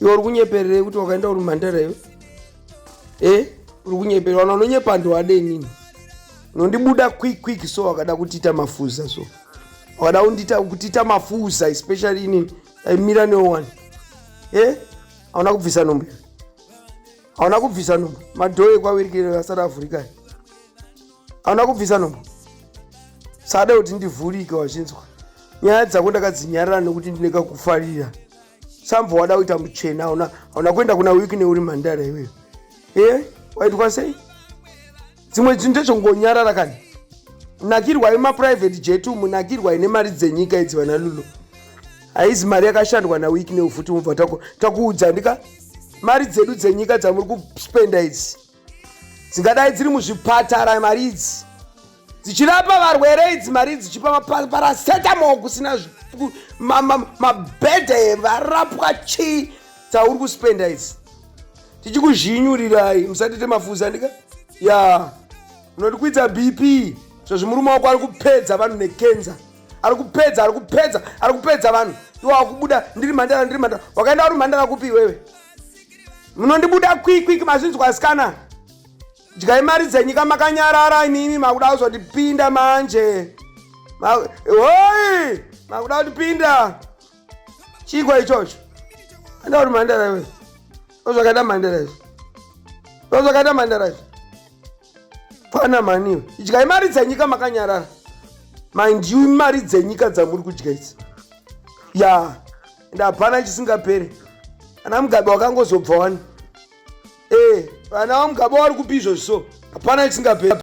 iwe uri kunyepererei kuti wakaenda uri mhandara iwe e uri kunyepera wana unonyepa ndi wade inini unondibuda quick quick so wakada kutiita mafuza so wakada kundiita kutiita mafuza especially inini aimira newe wani e hauna kubvisa nhumbu hauna kubvisa nhumbu madhoyo ekwawirikire asati avhurikani hauna kubvisa nhumbu sada kuti ndivhurike wachinzwa nyaya dzako ndakadzinyarara nekuti ndine kakufarira sambva wada kuita muchena hauna hauna kuenda kuna wikine uri mhandara iweyo e waitwa sei dzimwe dzinhu ndezvongonyarara kani nakirwai maprivate jet umu nakirwai nemari dzenyika idzi vana lulo haizi mari yakashandwa nawikine ufuti mubva takuudza ndika mari dzedu dzenyika dzamuri kuspenda idzi dzingadai dziri muzvipatara mari idzi dzichirapa varwere idzi mari dzichipa maparasetamo kusina mabhedha evarapwa chii dzauri kuspenda idzi tichikuzhinyurirai musatite mafuza ndika ya unotikwidza bp zvozvi murume wako ari kupedza vanhu nekenza ari kupedza ari kupedza ari kupedza vanhu iwakubuda ndiri mhandara ndiri mhandara wakaenda uri mhandara kupi iwewe munondibuda kwikwiki mazvinzwa asikana dyai mari dzenyika makanyarara imimi makuda kuzotipinda manje hoi makuda kutipinda chiiko ichocho enda kuti mhandara iwe ndozvakaita mhandara izvo ndozvakaita mhandara izvo fana maniwe idyai mari dzenyika makanyarara mind you imari dzenyika dzamuri kudya idzi ya yeah. ende hapana chisingapere ana mugabe wakangozobva wani ee eh, vana vamugabe wari kupi izvozvi so hapana chisingapere